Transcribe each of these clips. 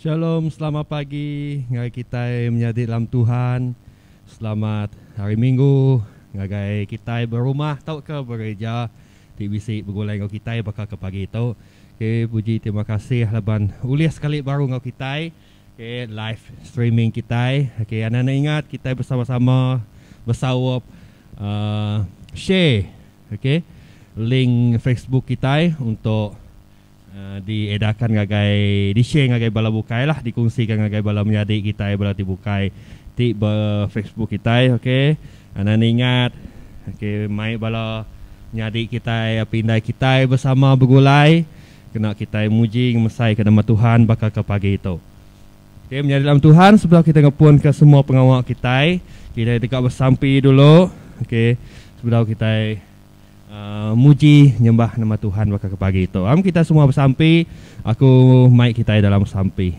Shalom selamat pagi ngagai kitai menyadi dalam Tuhan. Selamat hari minggu ngagai kitai berumah tauka bereja ti bisi begulai enggau kitai baka ke pagi tu. Okey puji terima kasih laban ulih sekali baru enggau kitai. Okey live streaming kitai. Okey anak-anak ingat kitai bersama-sama besaup uh, share Ok link Facebook kitai untuk di edarkan ngagai di share ngagai bala bukai lah di kongsi ka ngagai bala menyadi kitai bala ti bukai ti ba Facebook kitai ok anan ingat ok mai bala nyadi kitai api indai kitai bersama begulai kena kitai muji ngemesai ka nama Tuhan baka ka pagi tu. Okay, menyadi dalam Tuhan sebab kita ngepun ke semua pengawa kita. Kita deka bersampi dulu. Okay, sebab kita uh, muji nyembah nama Tuhan baka ke pagi itu. Am kita semua bersampi. Aku mai kita dalam sampi.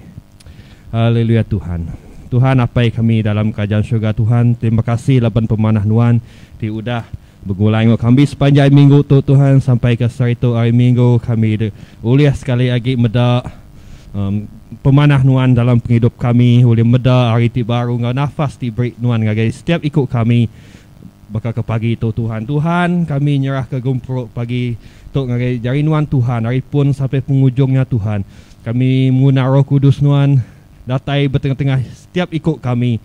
Haleluya Tuhan. Tuhan apai kami dalam kerajaan syurga Tuhan. Terima kasih laban pemanah nuan di udah Begulai enggau kami sepanjai minggu tu Tuhan sampai ke seritu hari minggu kami ulih sekali agi meda pemanah nuan dalam pengidup kami ulih meda hari ti baru enggau nafas ti beri nuan ngagai setiap iku kami baka ke pagi tu Tuhan Tuhan kami nyerah ke gempuru pagi tu ngagai jari nuan Tuhan ari pun sampai pengujung nya Tuhan kami nguna roh kudus nuan datai betengah tengah setiap iku kami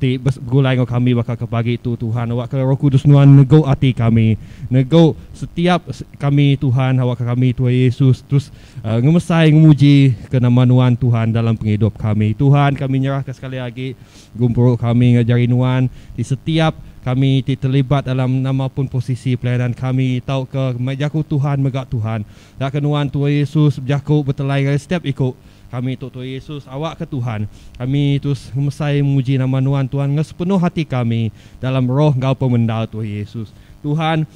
ti begulai enggau kami baka ke pagi tu Tuhan awakka Roh Kudus nuan negu ati kami negu setiap kami Tuhan awakka kami Tuhan Yesus terus uh, ngemesai ngemuji ke nama nuan Tuhan dalam pengidup kami Tuhan kami nyerahka sekali agi gumpuru kami ngajari nuan di setiap kami ti terlibat dalam nama pun posisi pelayanan kami tauka jaku Tuhan mega Tuhan dakka nuan Tuhan Yesus bejaku betelai ngai setiap iku Kami tu Tuai Yesus awakka Tuhan. Kami terus ngemesai muji nama Nuan Tuan enggau sepenuh ati kami dalam roh enggau pemendar Tuai Yesus. Tuhan,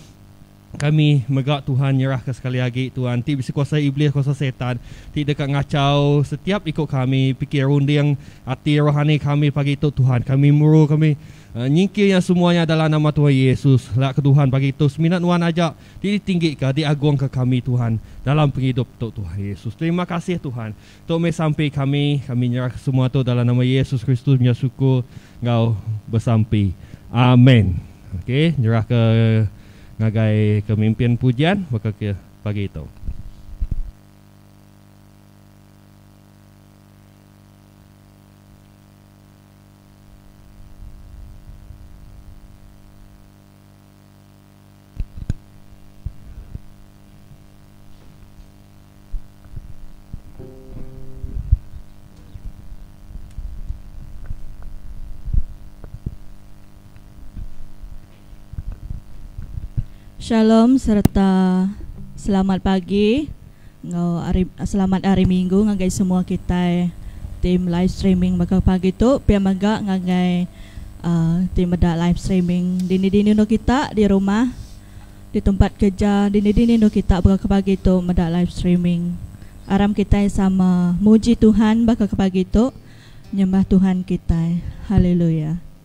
kami mega Tuhan nyerahka sekali agi Tuan ti bisi kuasa Iblis kuasa Setan ti deka ngachau setiap iku kami pikir runding ati rohani kami pagi tu Tuhan. Kami muru kami nyingkir iya semua nya dalam nama Tuai Yesus. Lak ke Tuhan pagi tu semina Nuan aja. Ti ditinggika, diagungka kami Tuhan dalam pengidup tu Tuhan Yesus. Terima kasih Tuhan. Tu meh sampi kami, kami nyerahka semua tu dalam nama Yesus Kristus nya syukur enggau besampi. Amen. Okey, nyerahka ngagai kemimpin pujian baka ke pagi tu. Shalom sereta selamat pagi. enggau ari selamat hari minggu ngagai semua kitai ti melive streaming baka pagi tu pia mega ngagai uhh ti meda live streaming dini dini endur kita di rumah di tempat kerja dini dini endur kita baka ke pagi tu meda live streaming aram kitai sama muji Tuhan baka ke pagi tu nyembah Tuhan kitai hallelujah.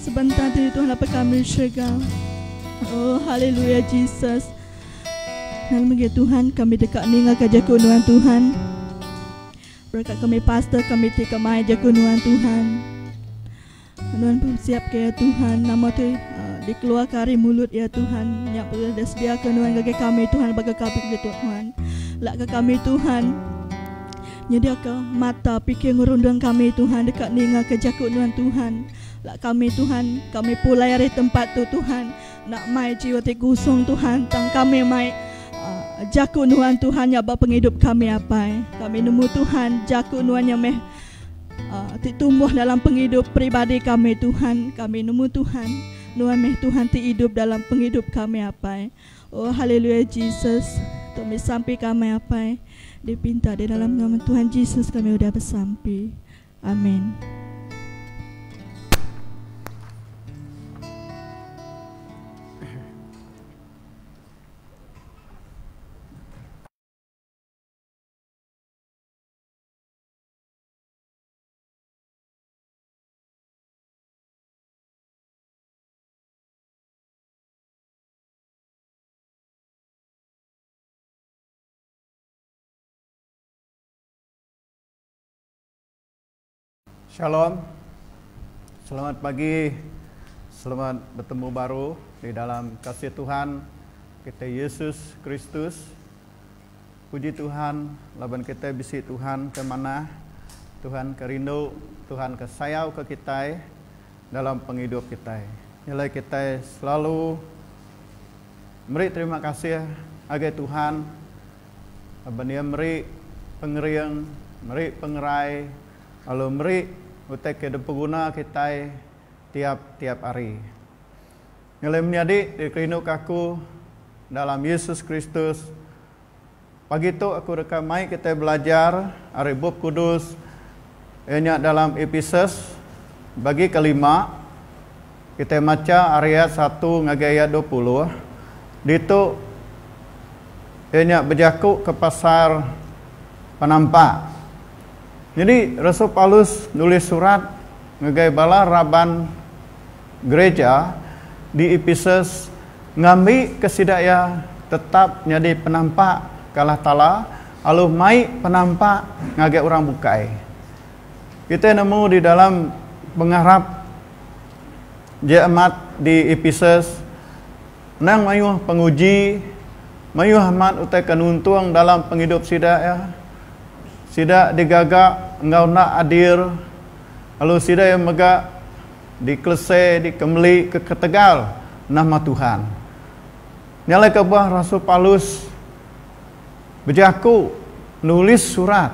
Sebentar diri Tuhan dapat kami syurga. Oh, haleluya Jesus. Nama mungkin Tuhan kami dekat ninga ke jaku nuan Tuhan. Berkat kami pastor kami ti kemai jaku nuan Tuhan. Nuan pun siap ke ya Tuhan. Nama tu uh, dikeluarkan dari mulut ya Tuhan. Yang boleh disediakan nuan bagi kami Tuhan. Bagi kami ke Tuhan. Lak ke kami Tuhan. Nyediaka mata pikir ngerundung kami Tuhan deka ningaka jaku nuan Tuhan la kami Tuhan kami pulai ari tempat tu Tuhan enda mai jiwa ti kusung Tuhan tang kami mai jaku nuan Tuhan nya ba pengidup kami apai kami nemu Tuhan jaku nuan nya meh ti tumbuh dalam pengidup peribadi kami Tuhan kami nemu Tuhan nuan meh Tuhan ti idup dalam pengidup kami apai. Oh haleluya Jesus tu mih sampi kamai apai di pinta di dalam nama Tuhan Jesus kami udah besampi Amin. Shalom. Selamat pagi. Selamat betemu baru di dalam kasih Tuhan kita Yesus Kristus. Puji Tuhan laban kita bisi Tuhan ke manah, Tuhan ke rindu, Tuhan ke sayauka kitai. dalam pengidup kitai nya alai kitai selalu meri terima kasih ngagai Tuhan laban iya meri pengering, meri pengerai lalu meri utai ke dipeguna kitai tiap-tiap hari. Nya alai menyadi dikerinduka aku dalam Yesus Kristus. Pagi tu aku deka mai kitai belajar ari Bup Kudus iya nya dalam Episus bagi ke lima. Kitai macha ari ayat satu ngagai ayat dua puluh. Ditu iya nya bejaku ke pasal penampak. Nyadi rasul Paulus nulis surat ngagai bala raban. Gereja di Epesus ngambika sida iya tetap nyadi penampak ke Allah Taala alu mai penampak ngagai orang bukai. Kitai nemu di dalam pengarap jeamat di Epesus endang mayuh penguji, mayuh amat utai ke nuntung dalam pengidup sida iya. Sida digaga enggau enda adil lalu sida iya mega. Dikelese, dikemeli ke ketegal nama Tuhan. Nyalaika bah rasul Paulus bejaku nulis surat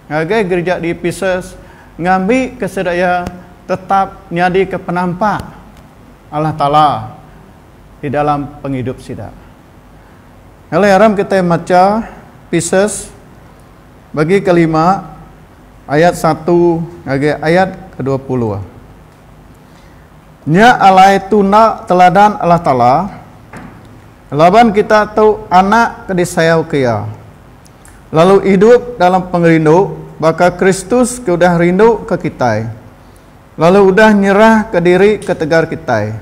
ngagai gerija di Epesus ngambika sida iya tetap nyadika penampak Allah Taala di dalam pengidup sida. Ngalai aram kitai macha Epesus bagi kelima. Ayat satu ngagai ayat kedua puluh. Nya alai tuna teladan Allah Taala, laban kita tu anak ke disayauka Iya, lalu idup dalam pengerindu baka Kristus ke udah rinduka kitai, lalu udah nyerahka diri ketegal kitai.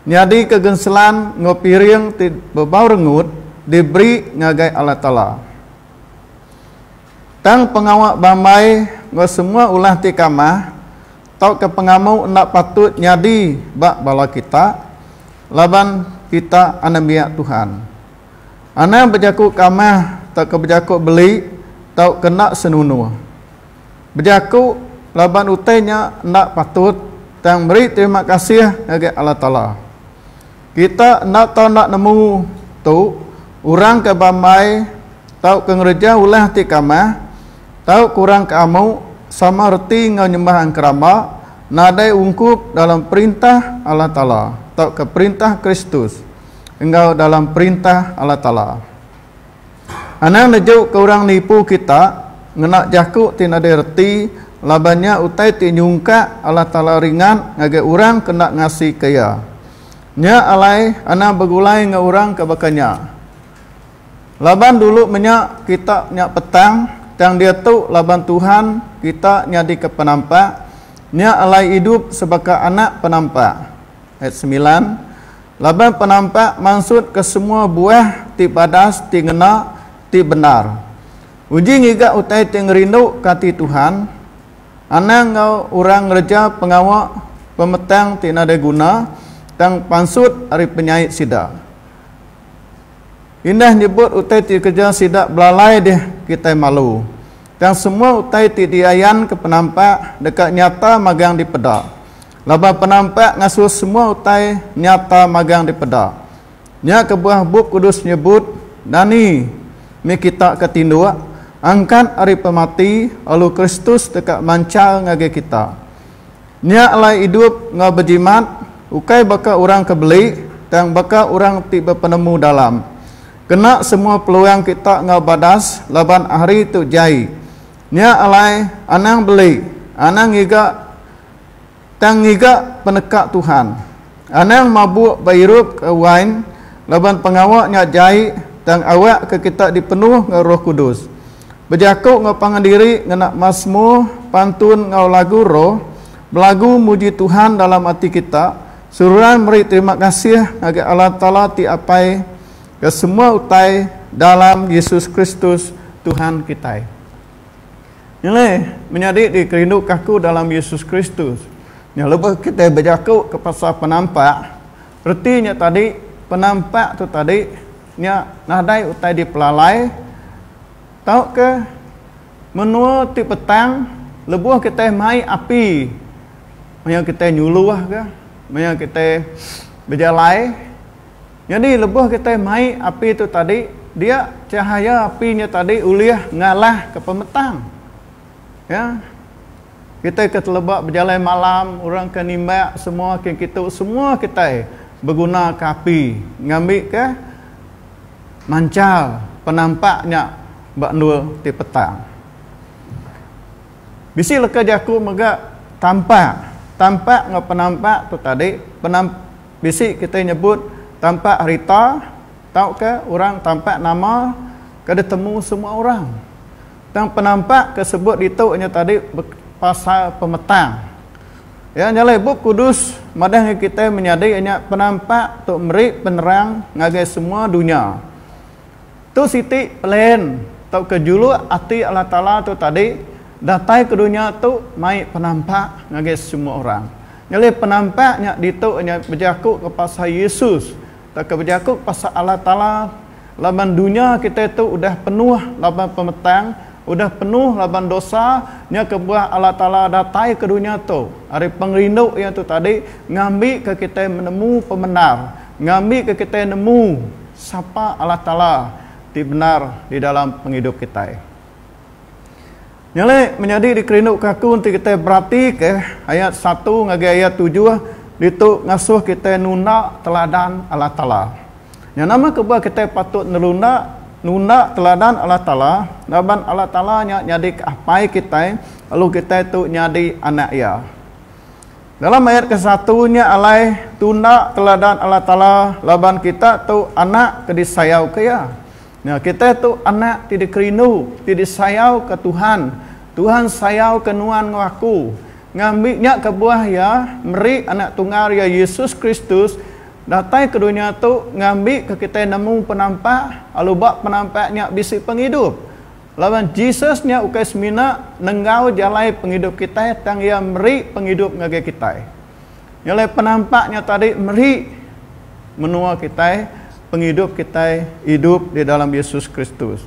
Nyadika genselan enggau piring ti bebau rengut diberi ngagai Allah Taala. Tang pengawa bambai enggau semua ulah ti kamah tauka pengamu enda patut nyadi ba bala kita laban kita anembiak Tuhan. Anang bejaku kamah tauka bejaku beli tauka enda senunur. Bejaku laban utai nya enda patut tang meri terima kasih ngagai Allah Taala. Kita enda tau enda nemu tu orang ke bambai tauka ngereja ulah ti kamah tau kurang ke amu sama reti enggau nyembah engkeramba nadai ungkup dalam Perintah Allah Taala tauka Perintah Kristus enggau dalam Perintah Allah Taala. Anang nejuka orang nipu kita ngena jaku ti nadai reti laban nya utai ti nyungkak Allah Taala ringat ngagai orang ke enda ngasika Iya. Nya alai anang begulai enggau orang ke baka nya. Laban dulu menya kita nya petang, tang diatu laban Tuhan kita nyadika penampak, nya alai idup sebaka anak penampak. Ayat semilan. Laban penampak mansut ke semua buah ti badas ti ngena ti bendar. Uji ngiga utai ti ngerindu ke ati Tuhan, anang enggau orang ngereja pengawa pemetang ti nadai guna tang pansut ari penyait sida. Indah nyebut utai ti dikereja sida belalai dih kitai malu. Tang semua utai ti diayanka penampak deka nyata magang dipeda. Laban penampak ngasuh semua utai nyata magang dipeda. Nya kebuah Bup Kudus nyebut dani mih kita ke tinduk angkat ari pemati lalu Kristus deka manchal ngagai kita. Nya alai idup enggau bejimat ukai baka orang ke beli tang baka orang ti bepenemu dalam. Kena semua peluang kita enggau badas laban hari tu jai. Nya alai anang beli, anang ngiga tang ngiga peneka Tuhan. Anang mabuk ba irup ke wain laban pengawa nya jai tang awak ke kita dipenuh enggau Roh Kudus. Bejaku enggau pangan diri ngena masmur, pantun enggau lagu roh, belagu muji Tuhan dalam ati kita, seruran meri terima kasih ngagai Allah Taala ti Apai ke semua utai dalam Yesus Kristus Tuhan kitai. Nilai menyadi dikerinduka aku dalam Yesus Kristus nya lebuh kitai bejaku ke pasal penampak, reti nya tadi penampak tu tadi nya nadai utai dipelalai tauka menua ti petang lebuh kitai mai api maya kitai nyuluh ka maya kitai bejalai. Nyadi lebuh kitai mai api tu tadi dia chahaya api nya tadi ulih ngalahka pemetang. Ya. Kitai ke teleba bejalai malam orang ke nimbak semua kin kitu semua kitai begunaka api ngambika manchal penampak nya ba endur ti petang. Bisi leka jaku mega tampak. Tampak enggau penampak tu tadi penam. Bisi kitai nyebut tampak harita tauka orang tampak nama ke ditemu semua orang. Tang penampak ke sebut ditu nya tadi pasal pemetang. Iya nya alai Bup Kudus madahka kitai menyadi nya penampak tu meri penerang ngagai semua dunya. Tu siti pelen tauka juluk ati Allah Taala tu tadi datai ke dunya tu mai penampak ngagai semua orang. Ngelih penampak nya ditu inya bejakuka pasal Yesus tauka bejakuka pasal Allah Taala laban dunya kitai tu udah penuh laban pemetang, udah penuh laban dosa, nya kebuah Allah Taala dataika dunya tu ari pengerindu Iya tu tadi ngambika kitai menemu pemendar, ngambika kitai nemu sapa Allah Taala ti bendar di dalam pengidup kitai. Nyadi, menyadi dikerinduka aku enti kitai beratika ayat satu ngagai ayat tujuh ditu ngasuh kitai nunda teladan Allah Taala. Nyau nama ke buah kitai patut nerunda nunda teladan Allah Taala? Laban Allah Taala nya nyadika Apai kitai lalu kitai tu nyadi anak Iya. Dalam ayat ke satu nya alai tunda teladan Allah Taala laban kita tu anak ke disayauka Iya. Nya, kitai tu anak ti dikerindu, ti disayauka Tuhan. Tuhan sayauka nuan enggau aku. Ngambi nya kebuah Iya meri Anak Tunggal Iya, Yesus Kristus, datai ke dunya tu ngambika kitai nemu penampak, lalu ba penampak nya bisi pengidup. Laban Jesus nya ukai semina nenggau jalai pengidup kitai, tang Iya meri pengidup ngagai kitai. Nyalai penampak nya tadi meri menua kitai, pengidup kitai idup di dalam Yesus Kristus.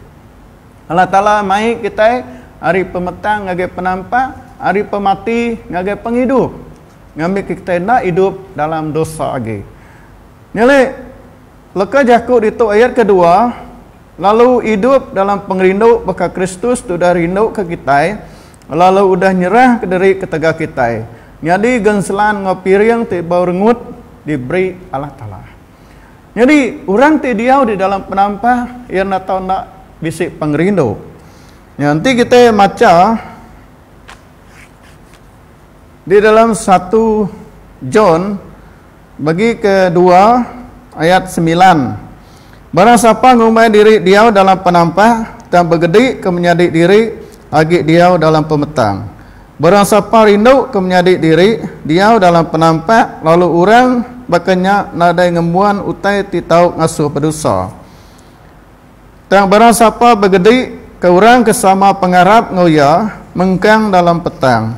Allah Taala mai kitai ari pemetang ngagai penampak, ari pemati ngagai pengidup, ngambika kitai enda idup dalam dosa agi. Nyalai leka jaku ditu ayat kedua, Lalu idup dalam pengerindu baka Kristus tudah rinduka kitai, Lalu udah nyerah ke diri ketegal kitai nyadi genselan enggau piring ti bau rengut diberi Allah Taala. Nyadi orang ti diau di dalam penampah iya enda tau enda bisi pengerindu. Nya enti kitai macha di dalam satu John Bagi ke dua, ayat semilan, Barang sapa ngumbai diri diau dalam penampah, tang begedi ke menyadi diri agi diau dalam pemetang. Barang sapa rindu ke menyadi diri diau dalam penampah lalu orang baka nya nadai ngembuan utai ti tau ngasuh bedusa. Tang barang sapa begedi ke orang ke sama pengarap enggau iya mengkang dalam petang.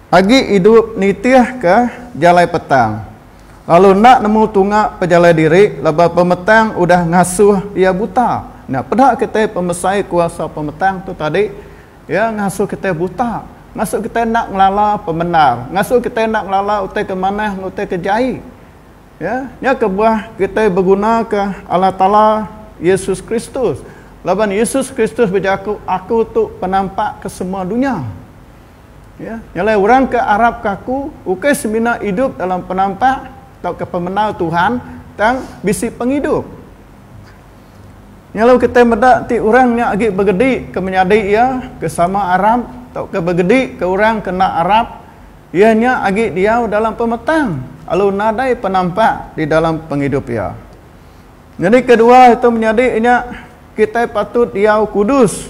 Agi idup nitihka jalai petang, lalu enda nemu tunga pejalai diri laban pemetang udah ngasuh iya buta. Nya peda kitai pemesai kuasa pemetang tu tadi. Iya ngasuh kitai buta, ngasuh kitai enda ngelala pemendar, ngasuh kitai enda ngelala utai ke manah enggau utai ke jai. Ya, nya kebuah kitai begunaka Allah Taala Yesus Kristus. Laban Yesus Kristus bejaku, Aku tu penampak ke semua dunya. Iya nyalai orang ke arapka aku ukai semina idup dalam penampak tauka pemenau Tuhan, tang bisi pengidup. Nyalai kitai meda ti orang nya agi begedi ke menyadi iya ke sama arap tauka begedi ke orang ke enda arap, iya nya agi diau dalam pemetang lalu nadai penampak di dalam pengidup iya. Nyadi kedua itu menyadi nya kitai patut diau kudus.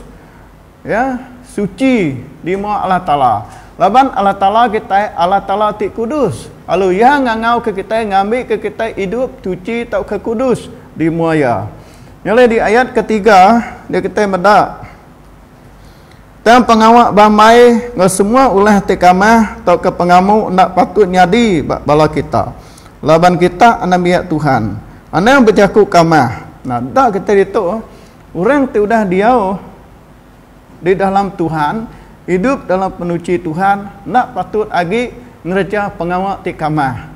Iya suci di mua Allah Taala. Laban Allah Taala kitai Allah Taala ti kudus, lalu Iya ngangauka kitai ngambika kitai idup suci tauka kudus di mua Iya. Nyelih di ayat ke tiga dia kitai meda, Tang pengawa bambai enggau semua ulah ti kamah tauka pengamu enda patut nyadi ba bala kita, laban kita anak biak Tuhan. Anang bejaku kamah. Nah, deka kitai ditu. Orang ti udah diau di dalam Tuhan, idup dalam penuchi Tuhan, enda patut agi ngereja pengawa ti kamah.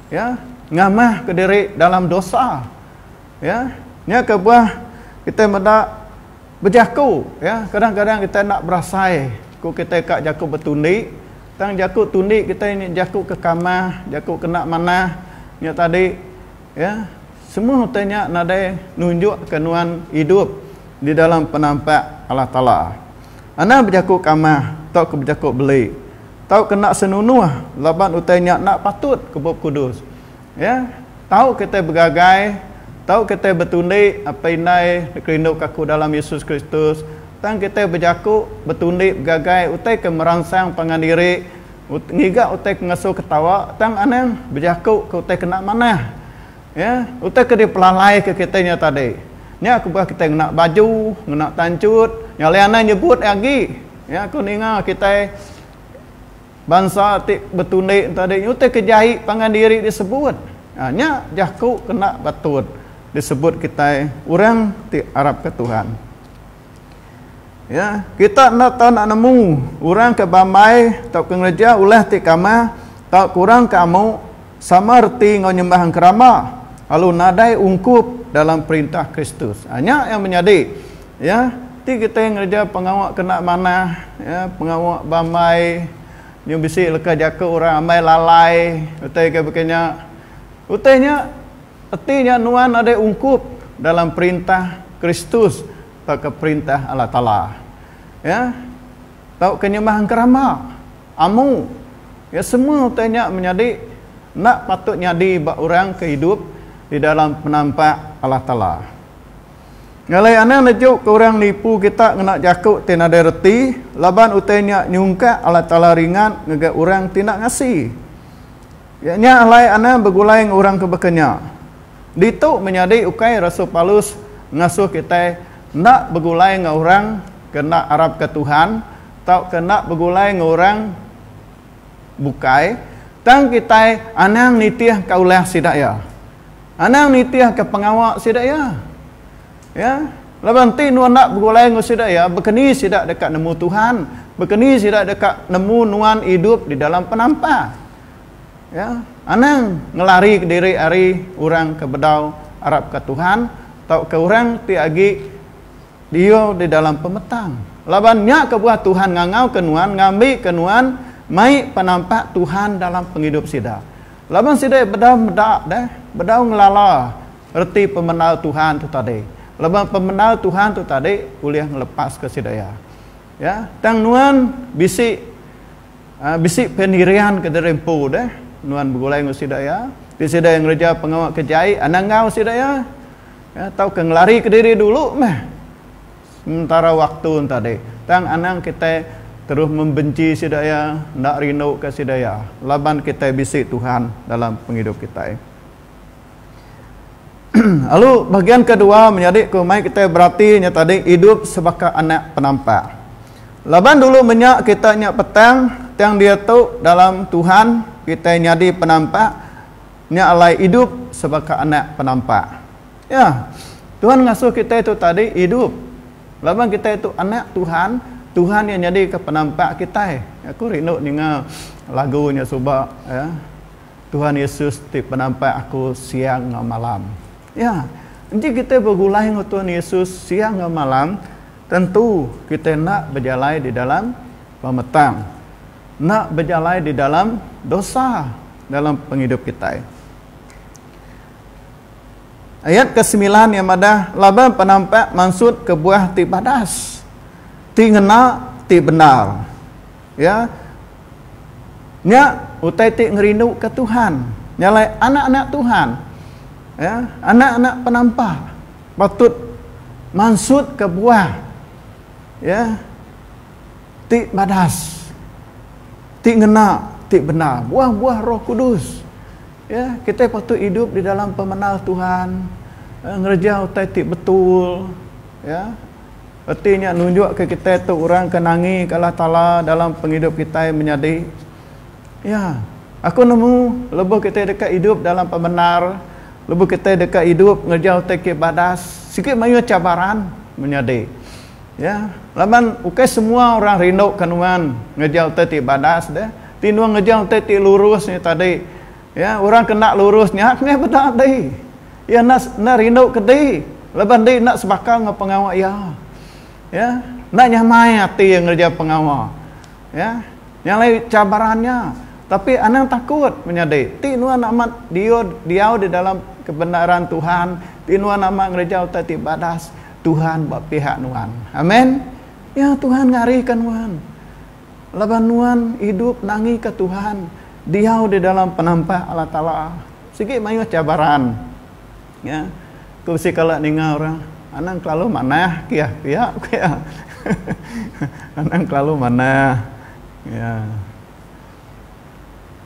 Ya, ngamahka diri dalam dosa. Ya, nya kebuah kitai meda bejaku. Ya, kadang-kadang kitai enda berasai ku kitai ka jaku betundi, tang jaku tundi kitai nya jaku ke kamah, jaku ke enda manah nya tadi. Ya, semua utai nya nadai nunjukka nuan idup di dalam penampak Allah Taala. Anang bejaku kamah tauka bejaku beli tauka enda senunuh laban utai nya enda patut ke Bup Kudus. Ya, tauka kitai begagai, tauka kitai betundi apai indai dikerinduka aku dalam Yesus Kristus, tang kitai bejaku, betundi, begagai utai ke meransang pangan diri, Ut, ngiga utai ke ngasuh ketawa tang anang bejaku ke utai kena manah. Ya, utai ke dipelalaika kitai nya tadi. Nya kebuah kitai ngena baju, ngena tanchut, nya alai anang nyebut iya agi. Ya, ku ninga kitai bansa ti betundi tadi nya utai ke jai pangan diri disebut. Ha, nya jaku kena ba tut disebut kitai orang ti arapka Tuhan. Ya, kita enda tau nak nemu orang ke bambai tauka ngereja ulah ti kamah tau kurang ke amu sama reti enggau nyembah engkerama lalu nadai ungkup dalam perintah Kristus. Ha, nya yang menyadi ya, ti kitai ngereja pengawa kena manah, ya, pengawa bambai nyau bisi leka jaku orang ambai lalai utai ke baka nya. Utai nya Reti nya nuan nadai ungkup dalam perintah Kristus tauka perintah Allah Taala. Ya. Tauka nyembah engkeramba, amu. Ya semua utai nya menyadi enda patut nyadi ba orang ke idup di dalam penampak Allah Taala. Ngalai anang nejuka orang nipu kita ngena jaku ti nadai reti laban utai nya nyungkak Allah Taala ringat ngagai orang ti enda ngasi. Iya nya alai Anna begulai enggau orang ke baka nya. Ditu menyadi ukai rasul Paulus ngasuh kitai enda begulai enggau orang ke enda arapka Tuhan tauka enda begulai enggau orang bukai, tang kitai anang nitihka ulah sida iya. Anang nitihka pengawa sida iya. Ya, laban enti nuan enda begulai enggau sida iya, baka ni sida deka nemu Tuhan? Baka ni sida deka nemu nuan idup di dalam penampa? Ya, anang ngelarika diri ari orang ke bedau arapka Tuhan tauka orang ti agi diau di dalam pemetang. Laban nya kebuah Tuhan ngangauka nuan ngambika nuan mai penampak Tuhan dalam pengidup sida. Laban sida bedau meda deh, bedau ngelala reti pemandal Tuhan tu tadi. Laban pemandal Tuhan tu tadi ulih ngelepaska sida iya. Ya, tang nuan bisi Aa bisi penirian kediri empu deh nuan begulai enggau sida iya, ti sida iya ngereja pengawa ke jai anang enggau sida iya ya tauka ngelarika diri dulu meh sementara waktu tadi. Tang anang kitai terus membenci sida iya, enda rinduka sida iya laban kitai bisi Tuhan dalam pengidup kitai. Lalu bahagian kedua menyadi ku mai kita berati nya tadi idup sebaka anak penampak. Laban dulu menya kita nya petang tang diatu dalam Tuhan kita nyadi penampak nya alai idup sebaka anak penampak. Ya. Tuhan ngasuh kita tu tadi idup laban kita tu anak Tuhan, Tuhan iya nyadika penampak kita. Aku rindu ninga lagu nya suba ya. Tuhan Yesus ti penampai aku siang enggau malam. Ya, enti kitai begulai enggau Tuhan Yesus siang enggau malam, tentu kitai enda bejalai di dalam pemetang, enda bejalai di dalam dosa dalam pengidup kitai. Ayat ke semilan iya madah, laban penampak mansut kebuah ti badas, ti ngena, ti bendar. Ya. Nya utai ti ngerinduka Tuhan. Nya alai anak-anak Tuhan, ya, anak-anak penampah patut mansutka buah ya ti badas ti ngena ti bendar buah-buah roh kudus ya kitai patut idup di dalam pemenal tuhan eh, ngereja utai ti betul ya Reti nya nunjukka kitai tu orang ke nangika Allah Taala dalam pengidup kitai menyadi. Ya, aku nemu lebuh kitai deka idup dalam pemendar, lebuh kitai deka idup ngereja utai ke badas, sigi mayuh cabaran menyadi. Ya, laban ukai semua orang rinduka nuan ngereja utai ti badas deh, ti nuan ngereja utai ti lurus nya tadi. Iya, orang ke enda lurus nya meh beda ati. Iya enda enda rindu kedi laban diri enda sebaka enggau pengawa iya. Iya, enda nyamai ati iya ngereja pengawa. Iya, nya alai cabaran nya. Tapi anang takut menyadi. Ti nuan amat diau diau di dalam kebenaran Tuhan, ti nuan amat ngereja utai ti badas, Tuhan ba pihak nuan. Amen. Iya, Tuhan ngarika nuan. Laban nuan idup nangika Tuhan, diau di dalam penampah Allah Taala. Sigi mayuh cabaran. Nya, ku bisi kala ninga orang, anang kelalu manah kiah pia, ku iya. anang kelalu manah. Nya,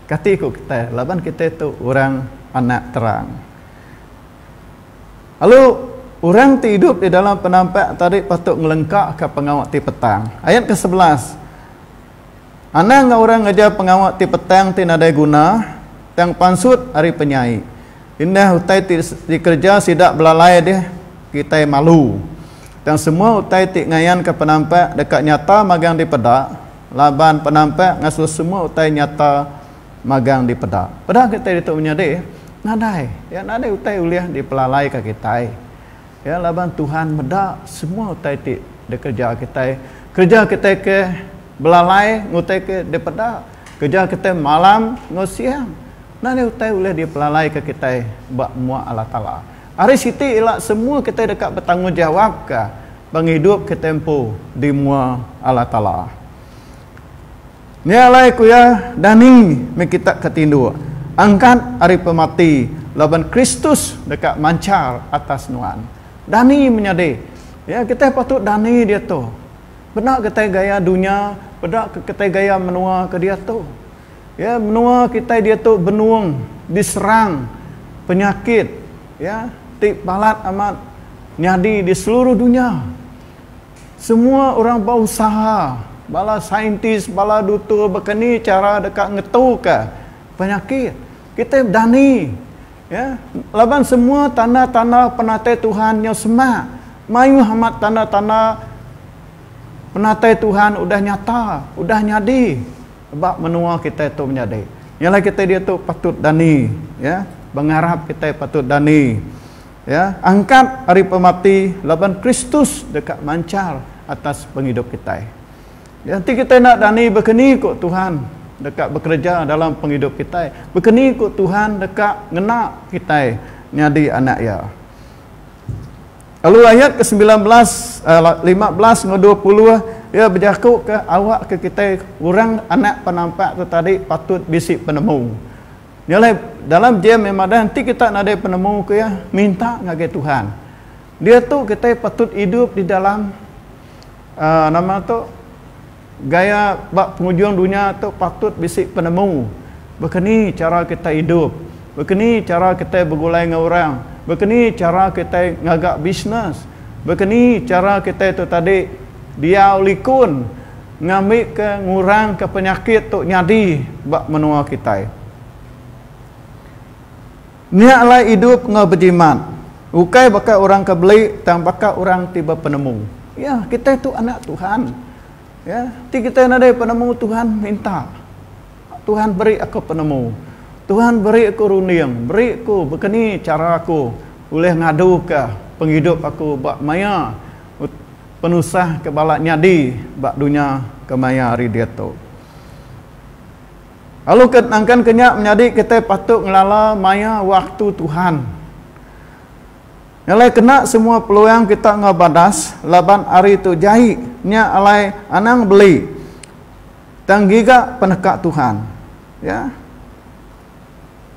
kati ku kitai laban kitai tu orang anak terang. Lalu, orang ti idup di dalam penampak tadi patut ngelengkaka pengawa ti petang. Ayat kesebelas, Anang enggau orang ngereja pengawa ti petang ti nadai guna, tang pansut ari penyai. Indah utai ti dikereja sida belalai dih kitai malu. Tang semua utai ti ngayanka penampak deka nyata magang dipeda, laban penampak ngasuh semua utai nyata. magang di peda. Peda kitai ditu menyadi nadai. Ya nadai utai ulih dipelalaika kitai. Ya laban Tuhan meda semua utai ti dikereja kitai. Kereja kitai ke belalai enggau utai ke di peda. Kereja kitai malam enggau siang. Nadai utai ulih dipelalaika kitai ba mua Allah Taala. Ari siti ila semua kitai deka betanggungjawapka pengidup kitai empu di mua Allah Taala. Nya alai ku iya, Dani meh kita ke tinduk angkat ari pemati laban Kristus deka manchar atas nuan. Dani menyadi. Ya, kitai patut dani diatu. Peda kitai gaya dunya, peda ke kitai gaya menua ke diatu. Ya, menua kitai diatu benung diserang penyakit, ya, ti balat amat nyadi di seluruh dunya. Semua orang ba usaha, bala saintis, bala dutur baka ni chara deka ngetuka penyakit. Kitai bedani ya laban semua tanda-tanda penatai Tuhan nyau semak. Mayuh amat tanda-tanda penatai Tuhan udah nyata, udah nyadi ba menua kitai tu menyadi. Nya alai kitai diatu patut dani ya, bengarap kitai patut dani. Iya angkat ari pemati laban Kristus deka manchar atas pengidup kitai. Iya enti kitai enda dani bekeni ku Tuhan deka bekereja dalam pengidup kitai, bekeni ku Tuhan deka ngena kitai nyadi anak Iya. Lalu ayat ke semilan belas, lima belas enggau dua puluh Iya bejakuka awakka kitai orang anak penampak tu tadi patut bisi penemu. Nya alai dalam jam yang madah enti kita nadai penemu ke iya, minta ngagai Tuhan. Diatu kitai patut idup di dalam uh, nama tu gaya ba pengujung dunya tu patut bisi penemu. Baka ni cara kita idup? Baka ni cara kita begulai dengan orang? Baka ni cara kita ngaga bisnes? Baka ni cara kita tu tadi diau likun? ngambika ngurangka penyakit tu nyadi ba menua kitai. Nya alai idup enggau bejimat ukai baka orang ke beli tang baka orang ti bepenemu. Ya, kitai tu anak Tuhan. Ya, ti kitai nadai penemu Tuhan minta Tuhan beri aku penemu. Tuhan beri aku runding, beri aku bekeni chara aku ulih ngaduka pengidup aku ba maya Penusah ke balat nyadi ba dunya kemaya hari diatu. Lalu ke nangkan ke nya menyadi kitai patut ngelala maya waktu Tuhan. Nya alai kena semua peluang kita enggau badas laban hari tu jai nya alai anang beli tang ngiga peneka Tuhan. Ya.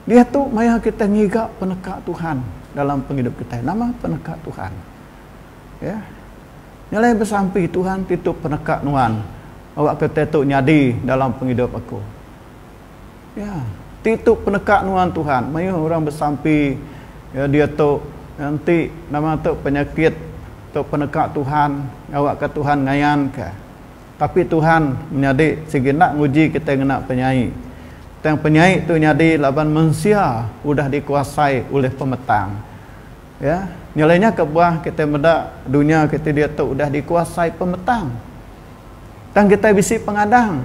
Diatu maya kitai ngiga peneka Tuhan dalam pengidup kitai. Nama peneka Tuhan? Ya. Nya alai besampi Tuhan titu peneka nuan awakka tai tu nyadi dalam pengidup aku. Ya. Titu peneka nuan Tuhan mayuh orang besampi ya diatu ya, enti nama tu penyakit tu peneka Tuhan awakka Tuhan ngayanka. Tapi Tuhan menyadi sigi enda nguji kitai ngena penyai. Tang penyai tu nyadi laban mensia udah dikuasai ulih pemetang. Ya, nyelai nya ke bah kitai meda dunya kiti diatu udah dikuasai pemetang. Tang kitai bisi pengadang.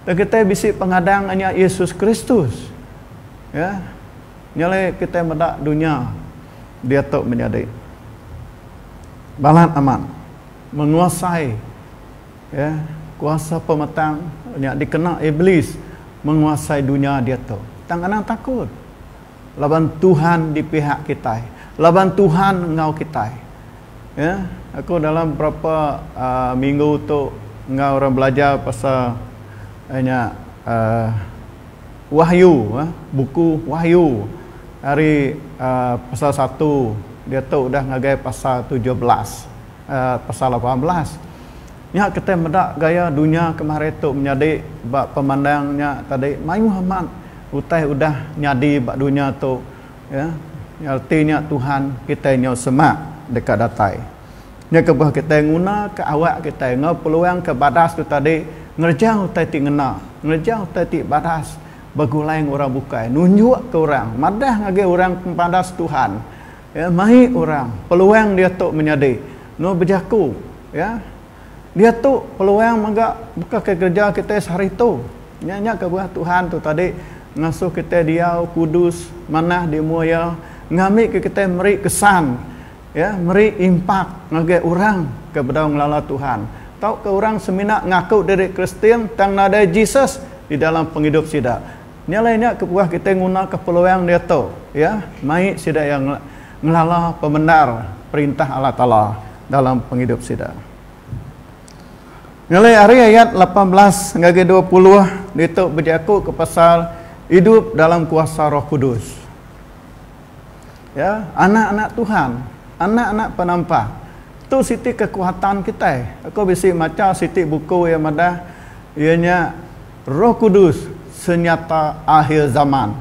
Tang kitai bisi pengadang anya Yesus Kristus. Ya. Nyelai kitai meda dunya diatu menyadi balat amat menguasai ya kuasa pemetang nya dikena iblis menguasai dunya diatu. Tang anang takut. laban Tuhan di pihak kitai, laban Tuhan enggau kitai. Ya, aku dalam berapa uh, minggu tu enggau orang belajar pasal uh, nya uh, Wahyu, uh, buku Wahyu hari uh, pasal satu dia tu dah ngagai pasal 17 uh, pasal 18 Nya kitai meda gaya dunya kemari tu menyadi ba pemandang nya tadi mayuh amat utai udah nyadi ba dunya tu iya reti nya Tuhan kitai nyau semak deka datai. Nya kebuah kitai ngunaka awak kitai enggau peluang ke badas tu tadi ngereja utai ti ngena, ngereja utai ti badas begulai enggau orang bukai nunjukka orang madah ngagai orang pempadas Tuhan. Ya, mai orang, peluang diatu menyadi. Enggau bejaku, ya, diatu peluang mega baka ke gereja kitai sehari tu. Nya, nya ke berah Tuhan tu tadi ngasuh kitai diau kudus manah di mua Iya ngambika kitai meri kesan, ya, meri impak ngagai orang ke bedau ngelala Tuhan tauka orang semina ngaku diri Kristian tang nadai Jesus di dalam pengidup sida. Nya alai nya kebuah kitai ngunaka peluang diatu iya mai sida iya ngelala pemendar Perintah Allah Taala dalam pengidup sida. Nya alai ari ayat lapan belas enggau agi dua puluh ditu bejakuka pasal idup dalam kuasa Roh Kudus. Iya, anak-anak Tuhan, anak-anak penampak. Tu siti kekuatan kitai. Aku bisi macha siti buku iya madah iya nya Roh Kudus senyata akhir zaman.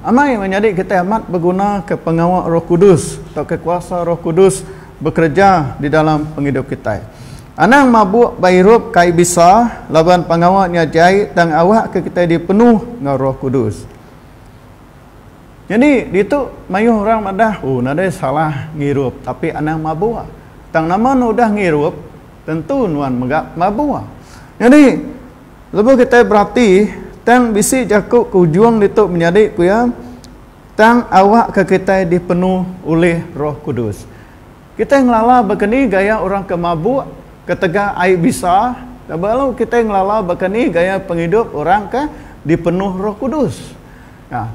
Amai meh nyadi kitai amat begunaka pengawa Roh Kudus tauka kuasa Roh Kudus bekereja di dalam pengidup kitai. Anang mabuk ba irup kai bisa laban pengawa nya jai tang awakka kitai dipenuh enggau Roh Kudus. Nyadi ditu mayuh orang madah, Oh nadai salah ngirup tapi anang mabuk. Tang nama enda udah ngirup? Tentu nuan mega mabua. Nyadi, lebuh kitai berati, tang bisi jaku ke ujung ditu menyadi ku iya, Tang awakka kitai dipenuh ulih Roh Kudus. Kitai ngelala baka ni gaya orang ke mabuk ketegal ai bisa lalu kitai ngelala baka ni gaya pengidup orang ke dipenuh Roh Kudus.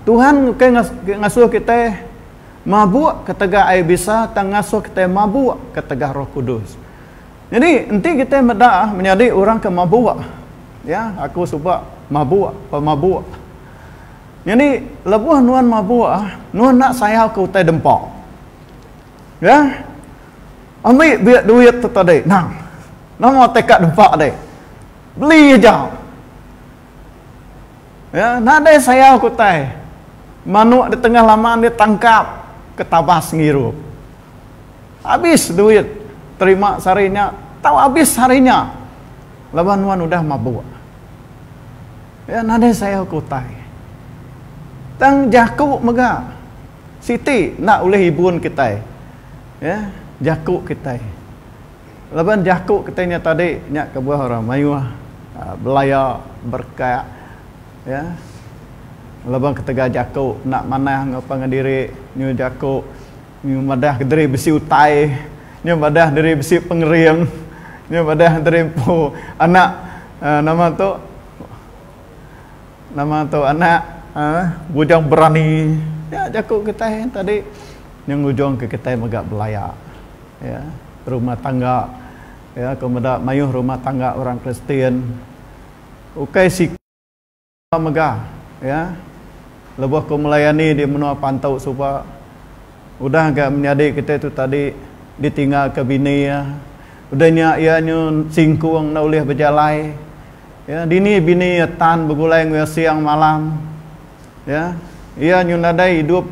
Tuhan ukai ngasuh kitai. Mabuk ketegal ai bisa tang ngasuh kitai mabuk ketegal Roh Kudus. Nyadi enti kitai meda menyadi orang ke mabuk, ya, aku suba mabuk, pemabuk. Nyadi lebuh nuan mabuk, nuan enda sayauka utai dempa. Ya. Ambi biak duit tu tadi, nang. Nama teka dempa deh. Beli aja. Ya, nadai sayau ke utai. Manuk di tengah laman dia tangkap ke tabas ngirup. Abis duit terima sehari nya tau abis hari nya laban nuan udah mabuk. Ya, nadai sayau ke utai. Tang jaku mega siti enda ulih ibun kitai. Ya, jaku kitai. Laban jaku kitai nya tadi nya kebuah orang mayuh belaya berkat ya laban ketegal jaku enda manah enggau pangan diri nyu jaku nyu madah diri bisi utai nyu madah diri bisi pengering nyu madah diri empu anak uhh nama tu nama tu anak uhh bujang berani nya jaku kitai tadi nyu ngujung ke kitai mega belaya. Ya, rumah tangga. Ya, aku meda mayuh rumah tangga orang Kristian ukai siku suba mega. Ya, lebuh aku melayani di menua Pantu suba, udah ga menyadi kitai tu tadi ditinggalka bini iya. Udah nya iya nyu singkung enda ulih bejalai. Ya, dini bini iya tan begulai enggau iya siang malam. Ya, iya nyu nadai idup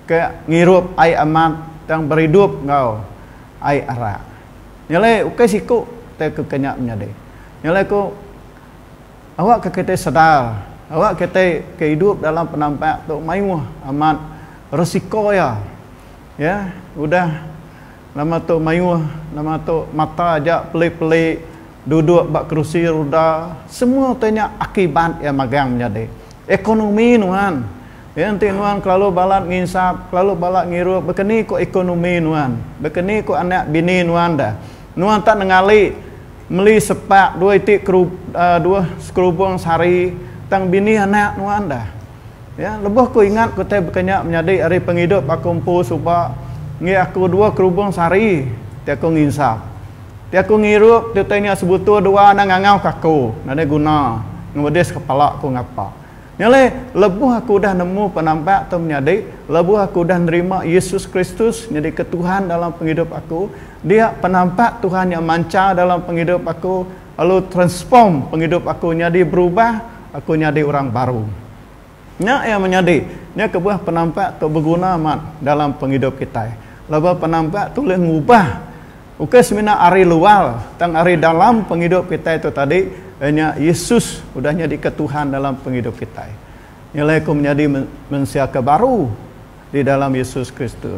ke ngirup ai amat tang beridup enggau ai arak. Nyelai ukai siku te ke ke nya menyadi. Nyelai ku awakka kitai sedar awak kitai ke idup dalam penampak tu mayuh amat resiko iya. Iya udah nama tu mayuh nama tu mata aja peli-peli. duduk ba kerusi ruda semua utai nya akibat iya magang menyadi ekonomi nuan iya enti nuan kelalu balat nginsap kelalu balat ngirup bekeni ko ekonomi nuan bekeni ko anak bini nuan da nuan tak nengali meli sepak dua iti kerup dua sekerubong sehari tang bini anak nuan da. Ya, lebuh ku ingat ku utai baka nya menyadi ari pengidup aku empu suba enggi aku dua kerubung sehari ti aku nginsa. Ti aku ngirup ti utai nya sebutu dua anang ngangau ka aku nadai guna ngemedis kepala ku ngapa. Nya alai lebuh aku udah nemu penampak tu menyadi, lebuh aku udah nerima Yesus Kristus nyadi ke Tuhan dalam pengidup aku, dia penampak Tuhan nya manchar dalam pengidup aku, Lalu transform pengidup aku nyadi berubah, aku nyadi orang baru. Nya iya menyadi, nya kebuah penampak tu beguna amat dalam pengidup kitai. Laban penampak tu ulih ngubah ukai semina ari luar, tang ari dalam pengidup kitai tu tadi, iya nya Yesus udah nyadika Tuhan dalam pengidup kitai. Nya alai aku menyadi mensia ke baru. di dalam Yesus Kristus.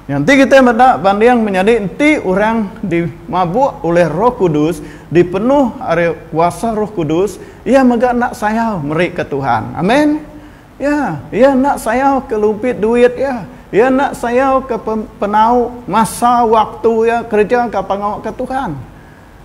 Nya enti kitai meda banding menyadi enti orang dimabuk ulih Roh Kudus, dipenuh ari kuasa Roh Kudus, iya mega enda sayau merika Tuhan. Amen. Ya, iya enda sayauka lumpit duit iya. Iya enda sayauka penau, masa, waktu iya kereja ka pengawa ke Tuhan.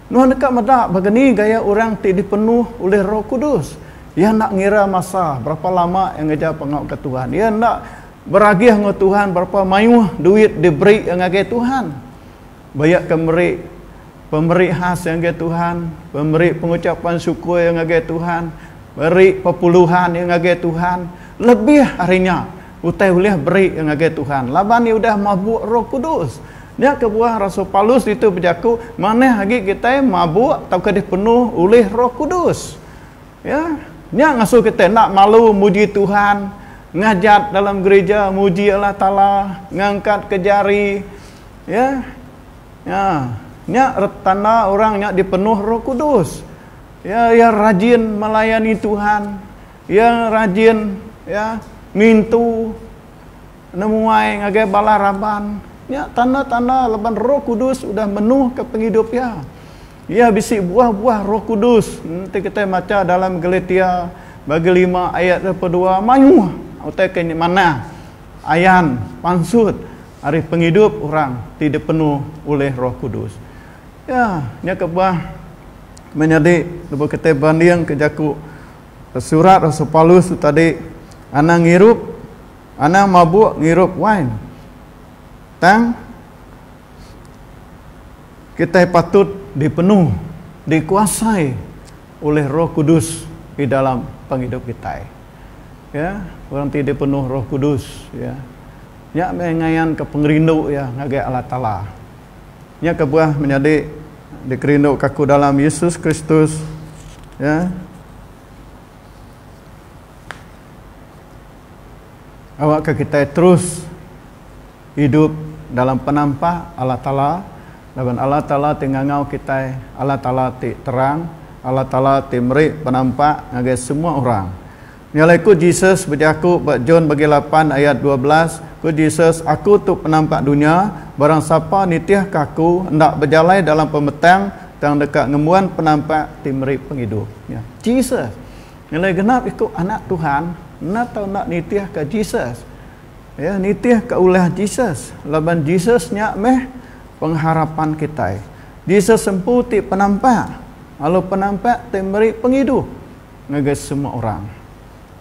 Nuan deka meda baka ni gaya orang ti dipenuh ulih Roh Kudus. Iya enda ngira masa berapa lama iya ngereja pengauka Tuhan. Iya enda beragih enggau Tuhan berapa mayuh duit diberi iya ngagai Tuhan. Ba iya ke meri pemeri khas iya ngagai Tuhan, pemeri pengucapan syukur iya ngagai Tuhan, meri pepuluhan iya ngagai Tuhan lebih ari nya Utai ulih beri ke ngagai Tuhan laban iya udah mabuk Roh Kudus. Nya kebuah rasul Paulus ditu bejaku manah agi kitai mabuk tauka dipenuh ulih Roh Kudus. Ya, nya ngasuh kitai enda malu muji Tuhan, ngajat dalam gerija, muji Allah Taala, ngangkatka jari. Ya. Ya, nya tanda orang nya dipenuh Roh Kudus. Ya, iya rajin melayani Tuhan. Iya rajin iya ngintu nemuai ngagai bala raban. Nya tanda-tanda laban Roh Kudus udah menuhka pengidup iya. Iya bisi buah-buah Roh Kudus. Enti kitai macha dalam Galatia bagi lima ayat dua puluh dua, mayuh utai ke manah ayan pansut ari pengidup orang ti dipenuh ulih Roh Kudus. Ya, nya kebuah menyadi lebuh kitai bandingka jaku Surat Rasul Paulus tu tadi anang ngirup anang mabuk ngirup wain. Tang kitai patut dipenuh dikuasai oleh Roh Kudus di dalam pengidup kitai. Ya, orang ti dipenuh Roh Kudus ya. Nya meh ngayanka pengerindu iya ngagai Allah Taala. Nya kebuah menyadi dikerinduka aku dalam Yesus Kristus, ya. Awakka kitai terus idup dalam penampak Allah Taala, laban Allah Taala ti ngangau kitai Allah Taala ti terang, Allah Taala ti meri penampak ngagai semua orang. Nyalai ku Jesus bejaku ba John bagi lapan ayat dua belas, ku Jesus, Aku tu penampak dunya, barang sapa nitihka Aku enda bejalai dalam pemetang tang deka ngembuan penampak ti meri pengidup. Nya, Jesus. Nyalai genap iku anak Tuhan enda tau enda nitihka Jesus. Iya nitihka ulah Jesus laban Jesus nya meh pengharapan kitai. Jesus empu ti penampak, lalu penampak ti meri pengidup. ngagai semua orang.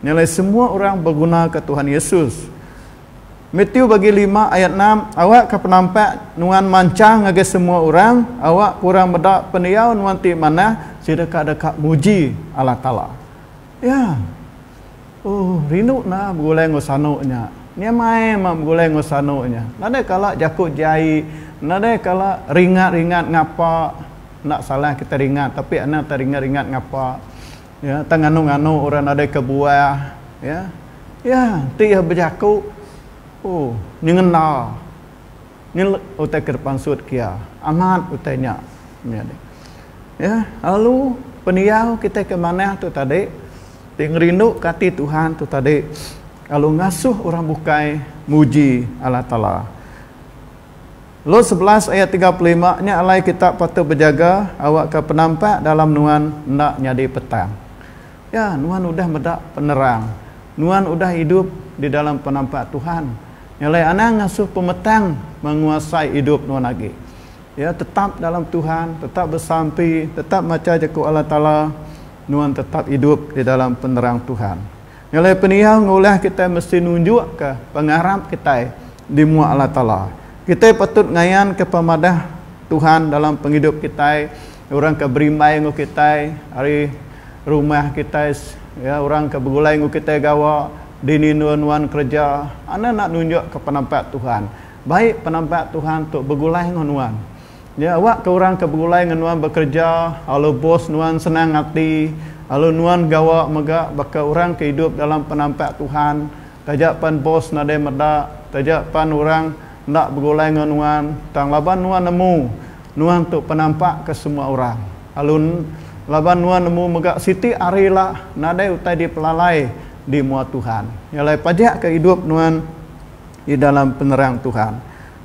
Nya alai semua orang begunaka Tuhan Yesus. Matiu bagi lima ayat enam, Awakka penampak nuan manchang ngagai semua orang, awakka orang meda pendiau nuan ti manah sida ka deka muji Allah Taala. Ya. Oh, rindu enda begulai enggau sanu nya. Nya mai meh begulai enggau sanu nya. Nadai kala jaku jai, nadai kala ringat-ringat ngapa. Enda salah kita ringat tapi enda tau ringat-ringat ngapa. Ya, tang nganu-nganu orang nadai kebuah. Ya. Ya, enti iya bejaku, oh, nyengenda. Ni utai ke dipansut ke iya. Amat utai nya. Nyadi. Ya, lalu pendiau kita ke manah tu tadi, ti ngerinduka ati Tuhan tu tadi lalu ngasuh orang bukai muji Allah Taala. Lut sebelas ayat tiga puluh lima nya alai kita patut bejaga awakka penampak dalam nuan enda nyadi petang. Ya, nuan udah meda penerang. Nuan udah idup di dalam penampak Tuhan. Nya alai anang ngasuh pemetang menguasai idup nuan agi. Ya, tetap dalam Tuhan, tetap besampi, tetap macha Jaku Allah Taala, nuan tetap idup di dalam penerang Tuhan. Ngelai pendiau enggau ulah kitai mesti nunjukka pengarap kitai di mua Allah Taala. Kitai patut ngayanka pemadah Tuhan dalam pengidup kitai, orang ke berimbai enggau kitai ari rumah kitai, ya, orang ke begulai enggau kitai gawa, dini endur nuan kereja, anda enda nunjukka penampak Tuhan. Baik penampak Tuhan tu begulai enggau nuan. Nya awak ke orang ke begulai ngan nuan bekereja alu bos nuan senang ati alu nuan gawa mega baka orang ke idup dalam penampak Tuhan taja pan bos nadai meda taja pan orang enda begulai ngan nuan tang laban nuan nemu nuan tu penampak ke semua orang alu laban nuan nemu mega siti hari la nadai utai dipelalai di mua Tuhan nyalai pajak ke idup nuan di dalam penerang Tuhan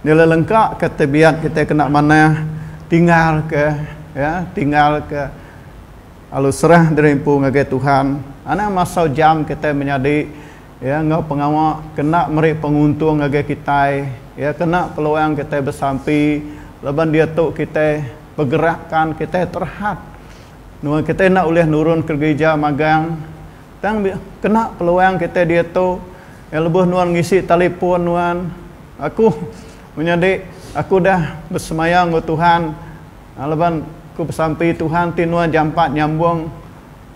Nyelelengka ke tebiat kitai kena manah tinggal ke ya tinggal ke lalu serah diri empu ngagai Tuhan anang masau jam kitai menyadi ya enggau pengawa kena meri penguntung ngagai kitai ya kena peluang kitai besampi laban diatu kitai pegerakan kitai terhad nuan kitai enda ulih nurun ke gerija magang Tang dia kena peluang kitai diatu iya lebuh nuan ngisi talipun nuan aku menyadi aku udah besemaya enggau Tuhan laban aku besampi Tuhan ti nuan jampat nyambung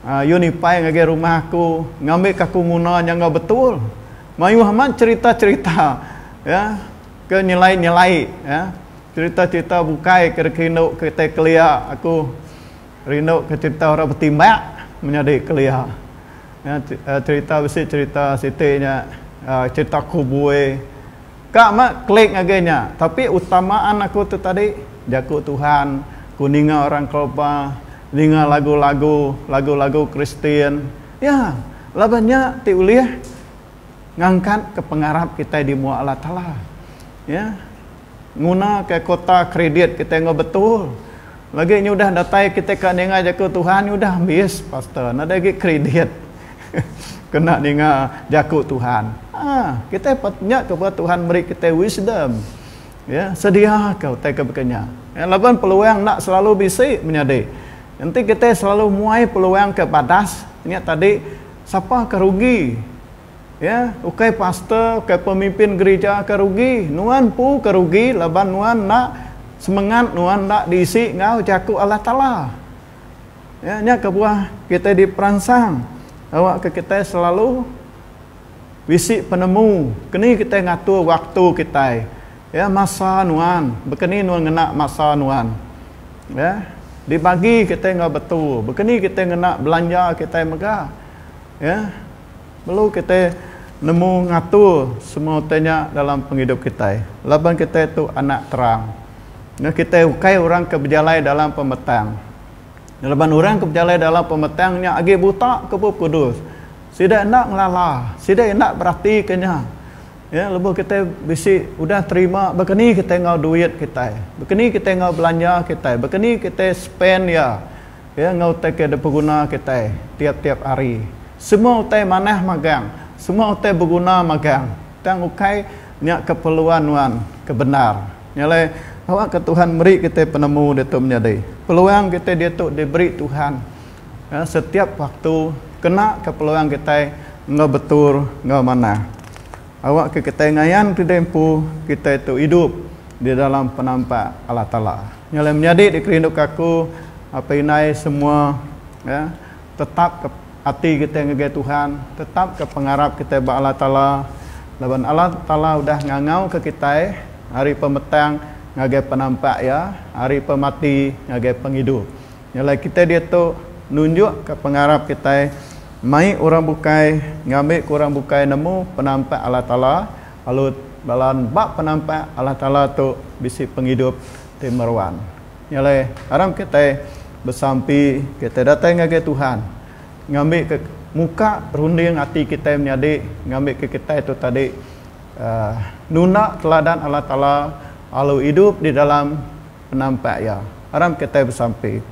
unifi ngagai rumah aku ngambi ka aku nguna nya enggau betul mayuh amat cherita-cherita iya ke nyelai-nyelai iya cherita-cherita bukai ke dikerindu kitai kelia aku. Rindu ke cerita orang betimbak menyadi kelia. Cerita bisi cerita siti nya cerita kubui. Ka meh klik ngagai nya. Tapi utamaan aku tu tadi jaku Tuhan, ku ninga orang kelaba, ninga lagu-lagu, lagu-lagu Kristian. Ya, laban nya ti ulih ngangkatka pengarap kitai di mua Allah Taala. Ya. Ngunaka kota kredit kitai enggau betul. Lagi nya udah datai kitai ka ninga jaku Tuhan nya udah ambis pastor nadai agi kredit kena ninga jaku Tuhan. Haa kitai patut nya ke buah Tuhan meri kitai wisdom ye sedia ka utai ke baka nya ye laban peluang enda selalu bisi menyadi enti kitai selalu muai peluang ke badas nya tadi sapa ke rugi. Ya, ukai pastor, ukai pemimpin gerija ke rugi. Nuan empu ke rugi laban nuan enda semengat nuan enda diisi enggau Jaku Allah Taala. Ya, nya kebuah kitai diperansang awakka kitai selalu bisi penemu keni kitai ngatur waktu kitai. Ya, masa nuan, baka ni nuan ngena masa nuan. Ya, dibagi kitai enggau betul. Baka ni kitai ngena belanja kitai mega. Iya perlu kitai nemu ngatur semua utai nya dalam pengidup kitai laban kitai tu anak terang. Enggau kitai ukai orang ke bejalai dalam pemetang. Laban orang ke bejalai dalam pemetang nya agi buta ke Bup Kudus. Sida enda ngelala, sida enda beratika nya. Iya lebuh kitai bisi udah terima baka ni kitai enggau duit kitai, baka ni kitai enggau belanja kitai, baka ni kitai spend iya. Iya enggau utai ke dipeguna kitai tiap-tiap hari. Semua utai manah magang. Semua utai beguna magang. Tang ukai nya keperluan nuan ke bendar. Nya alai, awakka Tuhan meri kitai penemu ditu menyadi. Peluang kitai ditu diberi Tuhan setiap waktu kena ke peluang kitai enggau betul enggau manah. Awakka kitai ngayanka diri empu kitai tu idup di dalam penampak Allah Taala. Nyelai menyadi dikerinduka aku, apai indai semua ya, tetapka ati kitai ngagai Tuhan, tetapka pengarap kitai ba Allah Taala laban Allah Taala udah ngangauka kitai ari pemetang ngagai penampak Iya, ari pemati ngagai pengidup. Nyelai kitai diatu nunjukka pengarap kitai mai orang bukai ngambika orang bukai nemu penampak Allah Taala, Alut bala nba penampak Allah Taala tu bisi pengidup ti meruan. Nya alai aram kitai besampi kitai datai ngagai Tuhan ngambika muka runding ati kitai menyadi ngambika kitai tu tadi uhh nunda teladan Allah Taala lalu idup di dalam penampak Iya. Aram kitai besampi.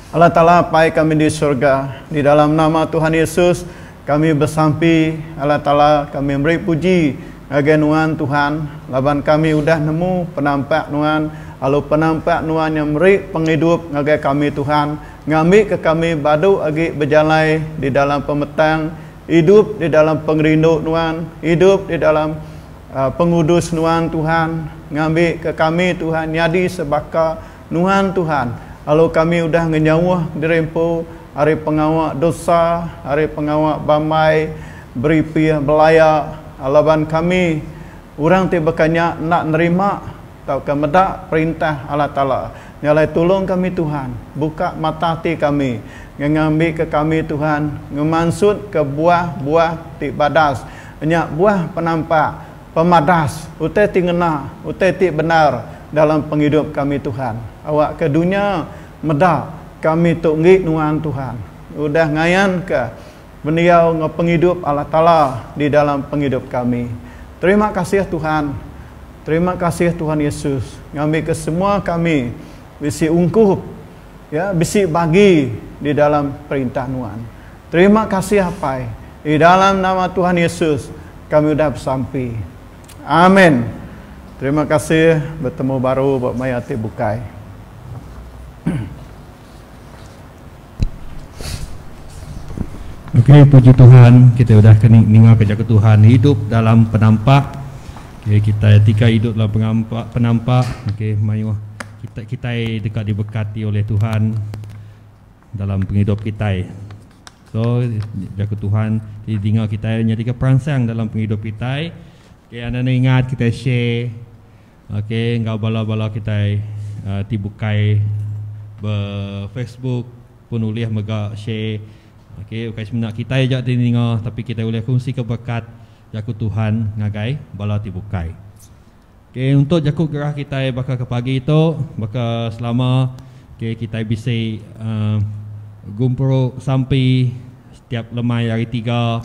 Allah Taala Apai kami di surga, di dalam nama Tuhan Yesus kami besampi Allah Taala kami meri puji ngagai Nuan Tuhan laban kami udah nemu penampak Nuan lalu penampak Nuan nya meri pengidup ngagai kami Tuhan ngambika kami badu agi bejalai di dalam pemetang idup di dalam pengerindu Nuan idup di dalam pengudus Nuan Tuhan ngambika kami Tuhan nyadi sebaka Nuan Tuhan, lalu kami udah ngenyauh diri empu ari pengawa dosa, ari pengawa bambai, beripih, belaya, laban kami orang ti baka nya enda nerima tauka meda perintah Allah Taala. Nya alai tulung kami Tuhan, buka mata ati kami nganga ambika kami Tuhan ngemansutka buah-buah ti badas, nya buah penampak, Pemadas utai ti ngena, utai ti bendar dalam pengidup kami Tuhan. Awakka dunya meda kami tu enggi nuan Tuhan. Udah ngayanka pendiau enggau pengidup Allah Taala di dalam pengidup kami. Terima kasih Tuhan. Terima kasih Tuhan Yesus ngambika semua kami bisi ungkup. Iya bisi bagi di dalam Perintah Nuan. Terima kasih Apai. Di dalam nama Tuhan Yesus kami udah besampi. Amen. Terima kasih bertemu baru buat maya ati bukai. Okey, puji Tuhan, kita sudah kena dengar ke jaga Tuhan hidup dalam penampak. Okey, kita etika hidup dalam penampak, penampak. Okey, mayuh. Kita kitai deka diberkati oleh Tuhan dalam pengidup kitai. So jaku Tuhan ti dinga kitai nyadika peransang dalam pengidup kitai. Okay, anda ni ingat kitai share okay, enggau bala-bala kitai uh, ti bukai be Facebook pun ulih mega share. Okay, bukai semina kitai aja ti ninga tapi kitai ulih kongsi ke berkat jaku Tuhan ngagai bala ti bukai. Ok untuk jaku gerah kitai baka ke pagi tu baka selama ok kitai bisi gumpuru sampi setiap lemai hari tiga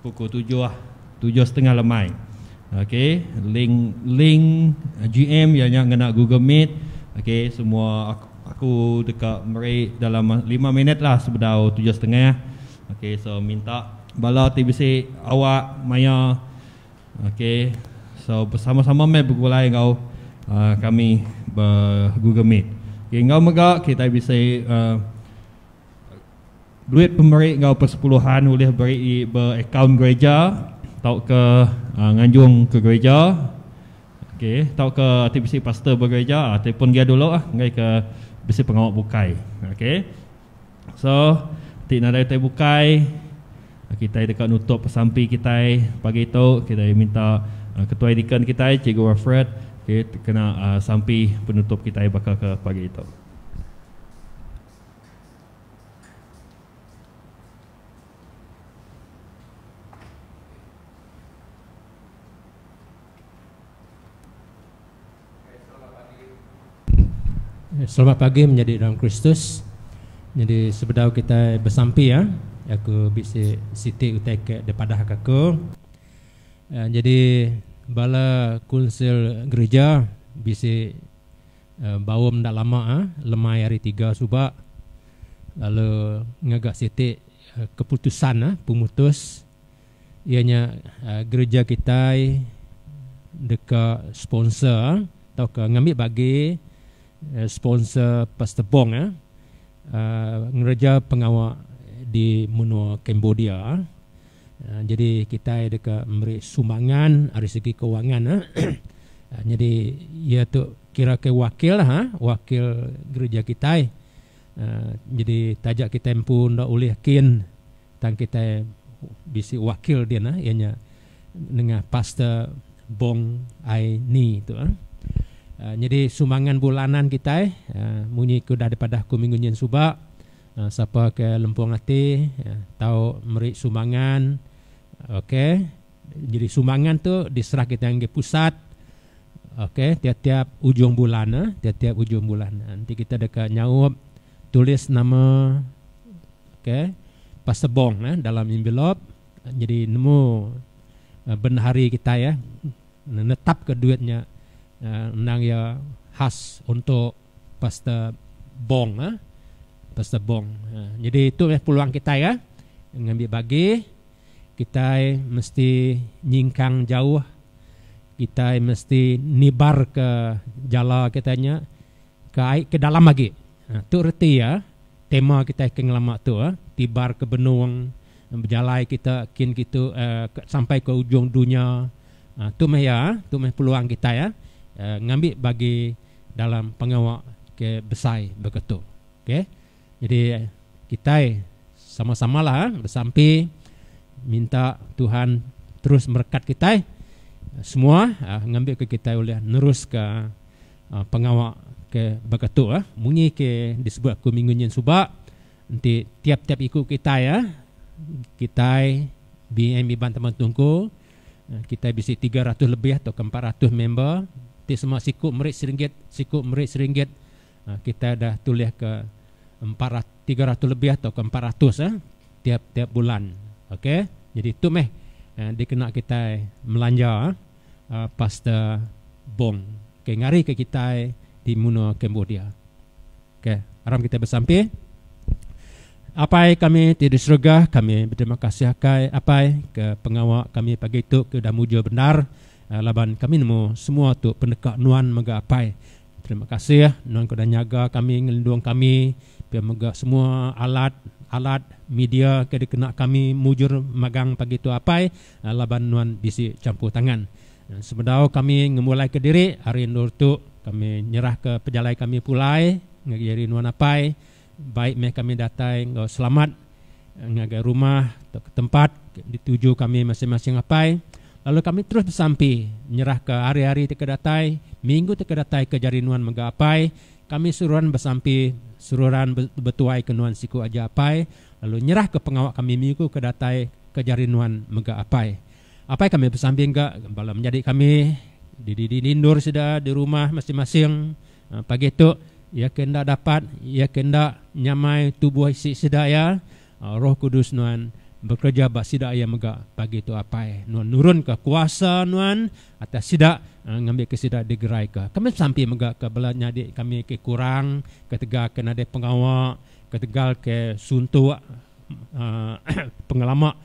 pukul tujuh tujuh setengah lemai ok link link GM iya nya ngena google meet ok semua aku deka meri dalam lima minit lah sebedau tujuh setengah ok so minta bala ti bisi awak maya Ok so besama sama meh begulai enggau kami ba google meet ok enggau mega kitai bisi duit pemeri enggau persepuluhan ulih beri ba akaun gereja tauka nganjung ke gereja ok tauka ti bisi pastor ba gereja ataupun gia dulu enggai ka bisi pengawa bukai ok. So ti nadai utai bukai kitai deka nutup pesampi kitai pagi tu kitai minta ketua edikan kitai cikgu Alfred okay kena sampi penutup kitai baka ke pagi tu. Selamat pagi menyadi dalam Kristus. Nyadi sebedau kitai besampi iya, aku bisi siti utai ke dipadahka aku. Nyadi bala kunsil gerija bisi baum enda lama lemai Hari Tiga suba lalu ngaga siti keputusan pemutus Iya nya gereja kitai deka sponsor tauka ngambi bagi sponsor Pastor Bong ngereja pengawa di menua Cambodia. Nyadi kitai deka meri sumbangan ari segi kewangan. Nyadi iya tu kira ke wakil wakil gereja kitai. Nyadi taja kitai empu enda ulih kin tang kitai bisi wakil dia nah iya nya nengah Pastor Bong Ai Ni tu. Nyadi sumbangan bulanan kitai munyi ke udah dipadah aku minggu nyin suba sapa ke lempung ati tau meri sumbangan okay. Jadi sumbangan tu diserah kita nggi pusat. Okey, tiap-tiap ujung bulan ah, tiap-tiap ujung bulan. Nanti kita deka nyaup tulis nama okey pasebong nah dalam envelope. Jadi nemu eh, bendahari kita ya menetap ke duit nya eh, endang ya khas untuk pasta bong ah. Pasta bong. Eh, jadi itu ya peluang kita ya ngambil bagi Kitai mesti nyingkang jauh, kitai mesti nibarka jala kitai nya ke ai ke dalam agi. Tu reti iya tema kitai ke ngelama tu, Tibarka Benung, bejalai kita kin kitu sampai ke ujung dunya. Tu meh iya, tu meh peluang kitai ngambi bagi dalam pengawa ke besai baka tu. Okey. Jadi kitai sama-samalah besampi minta Tuhan terus merekat kitai semua ngambika kitai ulih neruska pengawa ke baka tu munyi ke disebut aku minggu nyin suba enti tiap-tiap iku kitai kitai BM Iban Taban Tunku kitai bisi tiga ratus lebih tauka empat ratus member ti semua siku meri seringgit siku meri seringgit Kita udah tulih ke empat ratus, tiga ratus lebih atau ke empat ratus eh, tiap tiap bulan. Okay, jadi tu meh eh, dikena kita melanja eh, eh, Pastor Bong. Okay, ngari ke kita di Muno Cambodia. Okay, aram kita bersampi. Apai kami ti di surga, kami berterima kasih akai apai ke pengawa kami pagi tu ke udah mujur bendar eh, laban kami nemu semua tu pendeka nuan mega apai. Terima kasih nuan keda nyaga kami ngelindung kami pia mega semua alat alat media ke dikena kami mujur magang pagi tu apai laban nuan bisi champur tangan. Sebedau kami ngemulai ke diri hari endur tu kami nyerah ke pejalai kami pulai ngagai diri nuan apai Baik meh kami datai enggau selamat ngagai rumah tauka tempat ke dituju kami masing-masing apai, lalu kami terus besampi nyerahka hari-hari ti ke datai, minggu ti ke datai ke jari nuan mega apai, kami seruran besampi seruran betuaika nuan siku aja apai, lalu nyerahka pengawa kami minggu ke datai ke jari nuan mega apai. Apai kami besampi ga bala menyadi kami di dinding-dindur sida di rumah masing-masing Pagi tu, iya ke enda dapat, iya ke enda nyamai tubuh isi sida iya, Roh Kudus Nuan bekereja ba sida iya mega pagi tu apai. Nuan nurunka kuasa Nuan atas sida ngambika sida digeraika. Kami besampi mega ke bala nyadi kami ke kurang ketegal ke nadai pengawa, ketegal ke suntuk pengelama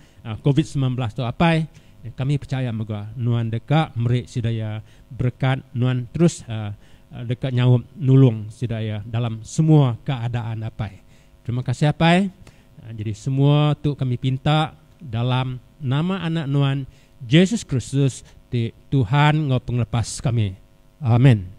covid semilan belas tu apai kami pechaya mega nuan deka meri sida iya berekat nuan terus deka nyaup nulung sida iya dalam semua keadaan apai terima kasih apai jadi semua tu kami pinta dalam nama anak nuan Jesus Kristus ti Tuhan enggau pengelepas kami amen.